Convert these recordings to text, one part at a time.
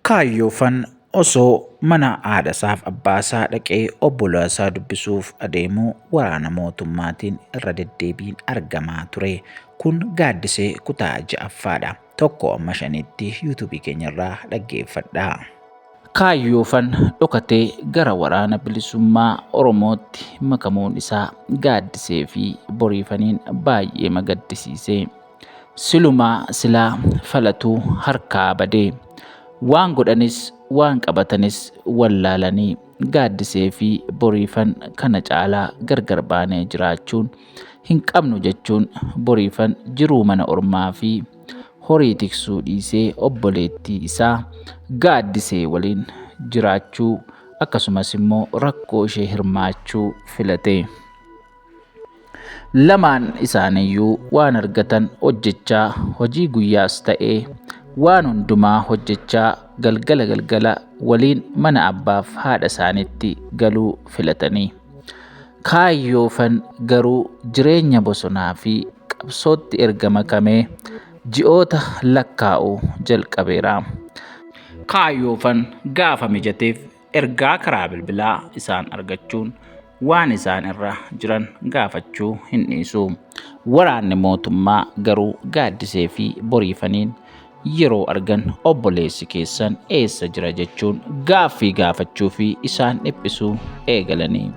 Kaayyoofan osoo mana haadhasaaf abbaasaa dhaqee obbolaasaa dubbisuuf adeemu waraana mootummaatiin irra deddeebiin argamaa ture. Kun gaaddisee kutaa ja'affaadha. Tokko amma shanitti yuutuubii keenyarraa dhaggeeffadhaa. Kaayyoofan dhokatee gara waraana bilisummaa Oromootti makamuun isaa gaaddisee fi boriifaniin baay'ee magaddisiise. Silumaa silaa falatuu harkaa badee. Waan godhanis waan qabatanis wallaalanii gaaddisee fi boriifan kana caalaa gargar baanee jiraachuun hin qabnu jechuun boriifan jiruu mana ormaa fi horii tiksuu dhiisee obboleettii isaa gaaddisee waliin jiraachuu akkasumas immoo rakkoo ishee hirmaachuu filate. Lamaan isaaniiyyuu waan argatan hojjechaa hojii guyyaas ta'ee waan hundumaa hojjechaa galgala galgala waliin mana abbaaf haadha isaaniitti galuu filatanii. Kaayyoofan garuu jireenya bosonaa fi qabsootti erga makamee ji'oota lakkaa'u jalqabeera. Kaayyoofan gaafa mijateef ergaa karaa bilbilaa isaan argachuun waan isaan irra jiran gaafachuu hin dhiisu. Waraanni mootummaa garuu gaaddisee fi boriifaniin yeroo argan obboleessi keessan eessa jira jechuun gaaffii gaafachuu fi isaan dhiphisuu eegalanii.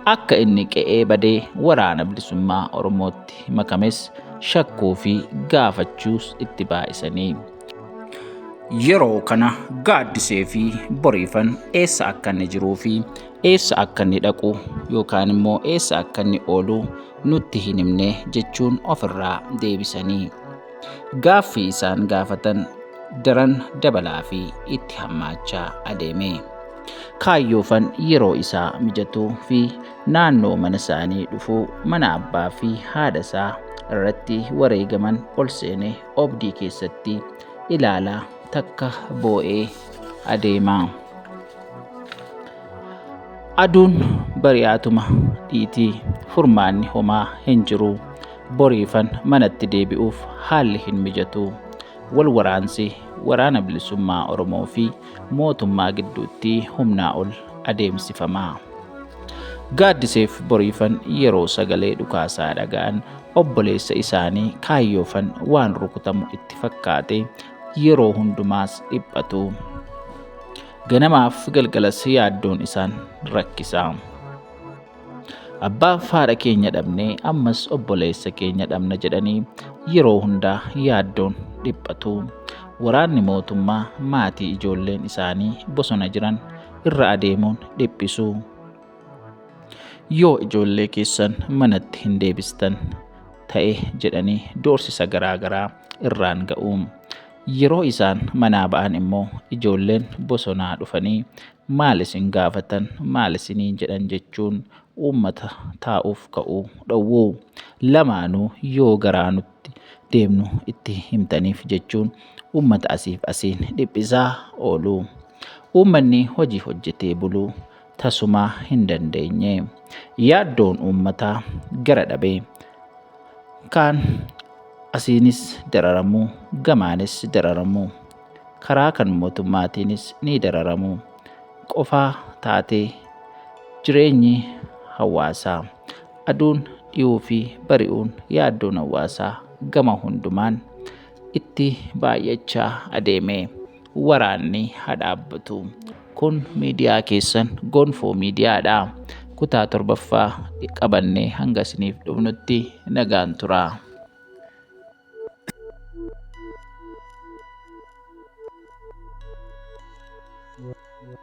Akka inni qe'ee badee waraana bilisummaa Oromootti makames shakkuu fi gaafachuus itti baay'isanii. Yeroo kana gaaddisee fi boriifan eessa akka inni jiruu fi eessa akka inni dhaqu yookaan immoo eessa akka inni oolu nutti hin himne jechuun ofirraa deebisanii gaaffii isaan gaafatan daran dabalaa fi itti hammaachaa adeeme. Kaayyoofan yeroo isaa mijatuu fi naannoo mana isaanii dhufuu mana abbaa fi haadha isaa irratti wareegaman ol seenee obdii keessatti ilaalaa takka boo'ee adeema. Aduun bari'aatuma dhiitii furmaanni homaa hin jiru. Boriifan manatti deebi'uuf haalli hin mijatu. Wal waraansi waraana bilisummaa Oromoo fi mootummaa gidduutti humnaa ol adeemsifama. Gaaddiseef boriifan yeroo sagalee dhukaasaa dhaga'an Obboleessa isaanii kaayyoofan waan rukutamu itti fakkaate yeroo hundumaas dhiphatu. Ganamaaf galgalas yaaddoon isaan rakkisa. Abbaa haadha keenya dhabne ammas obboleessa keenya dhabna jedhanii yeroo hundaa yaaddoon dhiphatu. Waraanni mootummaa maatii ijoolleen isaanii bosona jiran irra adeemuun dhiphisu. Yoo ijoollee keessan manatti hin deebistan ta'e jedhanii doorsisa garaa garaa irraan ga'u. Yeroo isaan manaa ba'an immoo ijoolleen bosonaa dhufanii maal isin gaafatan maal isinii jedhan jechuun uummata taa'uuf ka'u dhowwu. Lamaanuu yoo garaa nutti deemnu itti himtaniif jechuun uummata asiif asiin dhiphisaa oolu. Uummanni hojii hojjetee buluu tasumaa hin dandeenye. Yaaddoon uummataa gara dhabee kaan asiinis dararamu gamaanis dararamu karaa kan mootummaatiinis ni dararamu qofaa taatee jireenyi hawaasaa aduun dhiyuu fi bari'uun yaaddoon hawaasaa gama hundumaan itti baay'achaa adeeme. waraanni haa dhaabbatu. Kun miidiyaa keessan Gonfoo Miidiyaadha. Kutaa torbaffaa qabannee hanga isiniif dhufnutti nagaan turaa.